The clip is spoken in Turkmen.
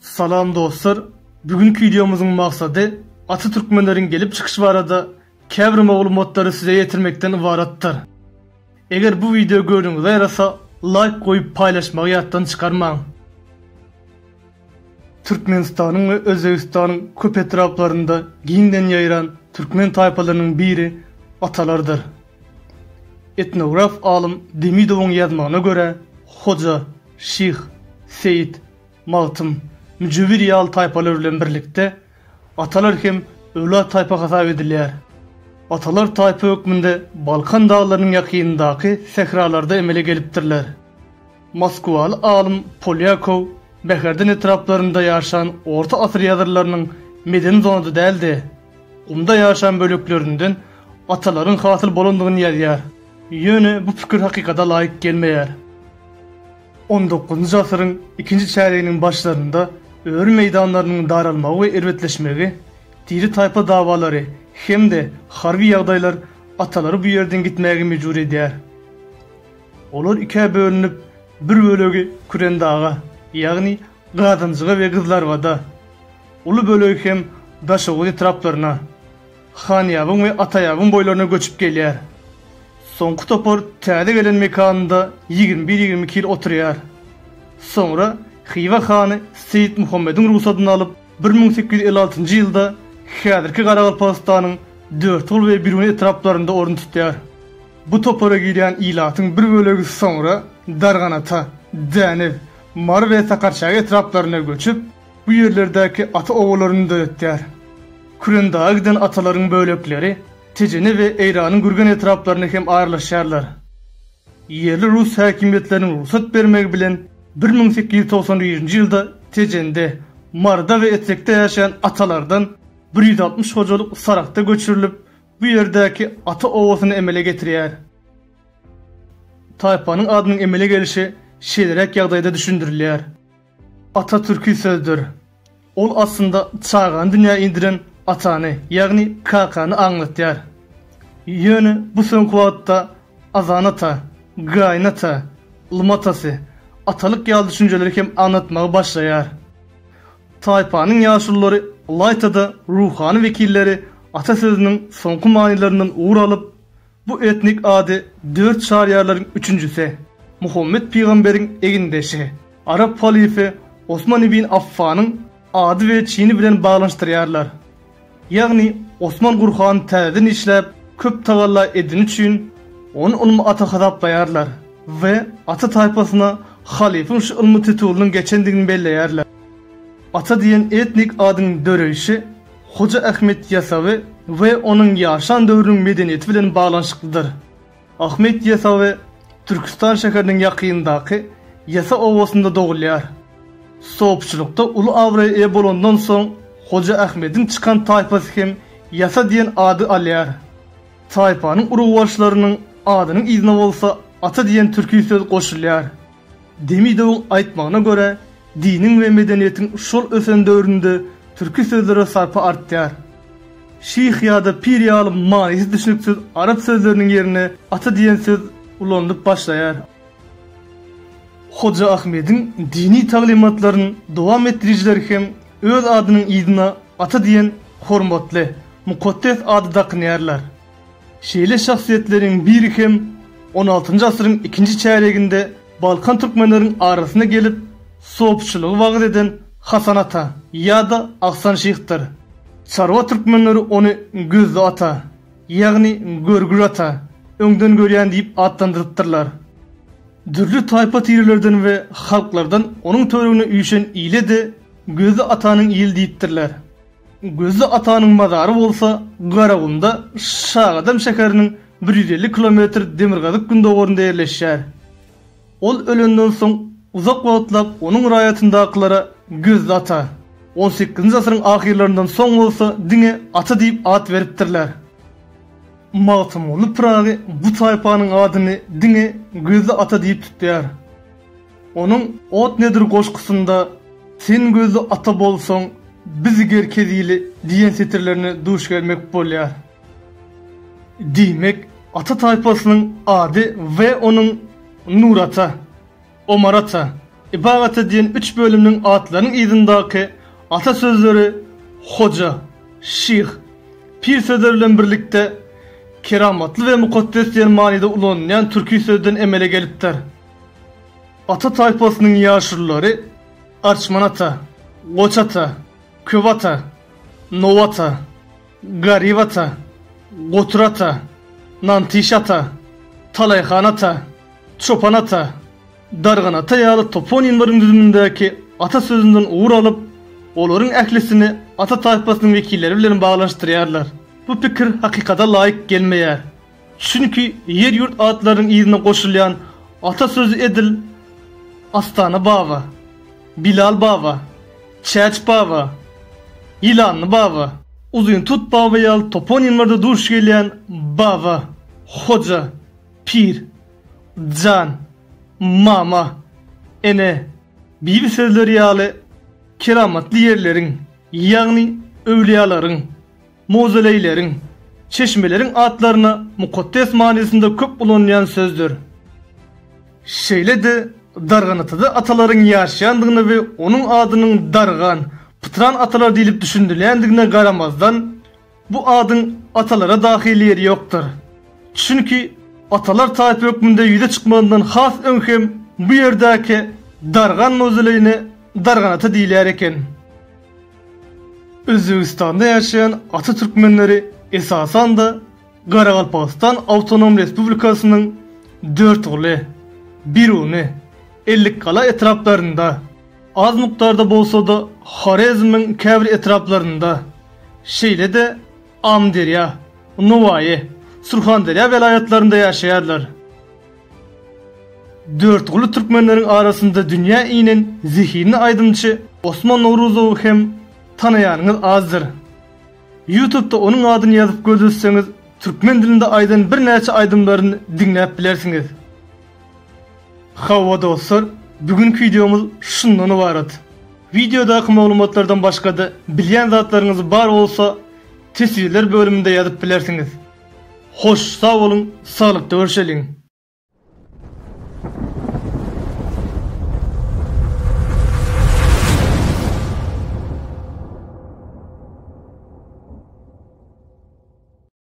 Salam dostlar! Bu günki wideomyzyň maksady Ata Türkmenleriň gelip çykyşy barada käbir maglumatlary size ýetirmekden ybaratdyr. Eger bu wideo göwnüňize ýarasa laýk goýup paýlaşmagy ýatdan çykarmaň. Türkmenistanyň we Özbegistanyň köp etraplarynda giňden ýaýran türkmen taýpalarynyň biri Atalardyr. Etnograf alym Demidowyň ýazmagyna görä, Hoja, Şyh, Seýit, Magtym, Müjewir ýaly taýpalar bilen birlikde atalar hem öwlat-taýpa hasap edilýär. Atalar taýpa hökmünde Balkan daglarynyň ýakynyndaky sähralarda emele gelipdirler. Moskwaly alym Polýakow Bäherden etraplarynda ýaşan orta asyr ýazyrlarynyň medeni zonada däl-de, Gumda ýaşan böleklerinden atalaryň hasyl bolandygyny ýazýar. Ýöne bu pikir hakykata laýyk gelmeýär. On dokuzynjy asyryň ikinji çärýeginiň başlarynda öri meýdanlarynyň daralmagy we erbetleşmegi, tire-taýpa dawalary hem-de harby ýagdaýlar atalary bu ýerden gitmäge mejbur edýär. Olar ikä bölünip, bir bölegi Kürendaga, ýagny Gazanjyga we Gyzlarybada, Uly bölegi hem Daşoguz etraplaryna, Hanýabyň we Ataýabyň boýlaryna göçüp gelýär. Soňky topar täze gelen mekanynda ýigrimi bir-ýigrimi iki ýyl oturýar. Soňra Hywa hany Seýit Muhammediň rugsadyny alyp, bir müň sekiz ýüz elli altynjy ýylda häzirki Garagalpagystanyň Dörtgul we Biruni etraplarynda orun tutýar. Bu topara girýän ilatyň bir bölegi soňra Darganata, Dänew, Mary we Sakarçäge etraplaryna göçüp, Bu ýerlerdäki ata obalaryny döretýär. Kürendaga giden atalaryň bölekleri Tejene we Eýranyň Gürgen etraplaryna hem aralaşýarlar. Ýerli rus häkimiýetleriniň rugsat bermegi bilen bir müň sekiz ýüz togsan birinji ýylda Tejende, Maryda we Etrekde ýaşaýan atalardan bir ýüz altmyş hojalyk Saragta göçürilip, bu ýerdäki ata obasyny emele getirýär. Taýpanyň adynyň emele gelişi şeýleräk ýagdaýda düşündirilýär. Ata türki sözdür. Ol aslynda çagany dünýä indiren atany, ýagny kakany aňlatýar. Ýöne bu soňky wagtda Azan ata, Gaýyn ata, Lym atasy, atalyk ýaly düşünjeleri hem aňlatmagy başlaýar. Taýpanyň ýaşululary ylaýta-da ruhany wekilleri ata sözüniň soňky manylaryndan ugur alyp, Bu etnik ady dört çaryýarlaryň üçünjisi, Muhammet pygamberiň egindeşi, arap halyfy Osman ibn Affanyň ady we çini bilen baglanyşdyrýarlar. Ýagny Osman Gurhany täzeden işläp, köp tagalla edeni üçin, ony ylmy ata hasaplaýarlar we ata taýpasyna halyfyň şu ylmy titulynyň geçendigini belleýärler. Ata diýen etnik adyň döreýşi, Hoja Ahmet Ýasawy we onuň ýaşan döwrüniň medeniýeti bilen baglanyşyklydyr. Ahmet Ýasawy Türküstan şäheriniň ýakynyndaky Ýasa obasynda dogulýar. Sopçulykda uly abraýa eýe bolandan soň, Hoja Ahmediň çykan taýpasy hem Ýasa diýen ady alýar. Taýpanyň urugbaşylarynyň adynyň yzyna bolsa Ata diýen türki söz goşulýar. Demidowyň aýtmagyna görä, diniň we medeniýetiň şol ösen döwründe türki sözlere sarpa artýar. Şyh ýa-da pir ýaly manysy düşnüksiz arap sözleriniň ýerine ata diýen söz ulanylyp başlaýar. Hoja Ahmediň dini taglymatlaryny dowam etdirijiler hem öz adynyň yzyna ata diýen hormatly, mukaddes ady dakynýarlar. Şeýle şahsyýetleriň biri hem on altynjy asyryň ikinji çärýeginde balkan türkmenleriň arasyna gelip, sopçylygy wagyz eden Hasan ata ýa-da Ahsan şyhdyr. Çarwa türkmenleri ony Gözli ata, ýagny Görgül ata, öňden görýän diýip atlandyrypdyrlar. Dürli taýpa-tirelerden we halklardan onuň töweregine üýşen ile-de Gözli atanyň ili diýipdirler. Gözli atanyň mazary bolsa Garagumda, Şagadam şäheriniň bir ýüz elli kilometr demirgazyk-gündogarynda ýerleşýär. Ol ölenden soň uzak wagtlap onuň raýatyndakylara Gözli ata, on sekizinji asyryň ahyrlaryndan soň bolsa diňe ata diýip at beripdirler. Magtymguly Pyragy bu taýpanyň adyny diňe Gözli ata diýip tutýar. Onuň Ot nedir goşgusynda Sen gözli ata bolsaň, biz gerkez ili diýen setirlerine duş gelmek bolýar. Diýmek, ata taýpasynyň ady we onuň Nurata, Omarata, Ibagata diýen üç bölüminiň atlarynyň yzyndaky ata sözleri hoja, şyh, pir sözleri bilen birlikde keramatly we mukaddes diýen manyda ulanylýan türki sözden emele gelipdir. Ata taýpasynyň ýaşululary Arçman ata, Goç ata, Köp ata, Now ata, Garyp ata, Gotur ata, Nantyş ata, Talaýhan ata, Çopan ata, Dargan ata ýaly toponimleriň düzümindäki ata sözünden ugur alyp, olaryň ählisini ata taýpasynyň wekilleri bilen baglanyşdyrýarlar. Bu pikir hakykata laýyk gelmeýär. Çünki ýer-ýurt atlarynyň yzyna goşulýan ata sözi edil Astana baba, Bilal baba, Çäç baba, Ýylanly baba, Uzyntut baba ýaly toponimlerde duş gelýän baba, hoja, pir, jan, mama, ene, bibi sözleri ýaly keramatly ýerleriň, ýagny öwlüýalaryň, Mowzoleýleriň, çeşmeleriň atlaryna mukaddes manysynda köp ulanylýan sözdür. Şeýle-de, Darganatada atalaryň ýaşaýandygyna we onuň adynyň Dargan, pytran atalar diýlip düşündirilýändigine garamazdan, bu adyň atalara dahyl ýeri ýokdur. Çünki atalar taýpa hökmünde ýüze çykmazyndan has öň hem bu ýerdäki Dargan mowzoleýine Darganata diýilýär eken. Özbegistanda ýaşaýan ata türkmenleri esasan-da Garagalpagystan Awtonom Respublikasynyň Dörtguly, Biruny, Ellikgala etraplarynda, az mukdarda bolsa-da Horezmiň käbir etraplarynda, şeýle-de Amyderýa, Nowaýy, Surhanderýa welaýatlarynda ýaşaýarlar. Dörtguly türkmenleriň arasynda dünýä inen zehinli aýdymçy Osman Nowruzowy hem tanaýanyňyz azdyr. Ýutubda onuň adyny ýazyp gözletseňiz, türkmen dilinde aýdan birnäçe aýdymlaryny diňläp bilersiňiz. Hawa dostlar, bu günki wideomyz şundan ybarat. Wideodaky maglumatlardan başga-da bilýän zatlaryňyz bar bolsa, teswirler bölüminde ýazyp bilersiňiz. Hoş sag boluň saglykda görşeliň.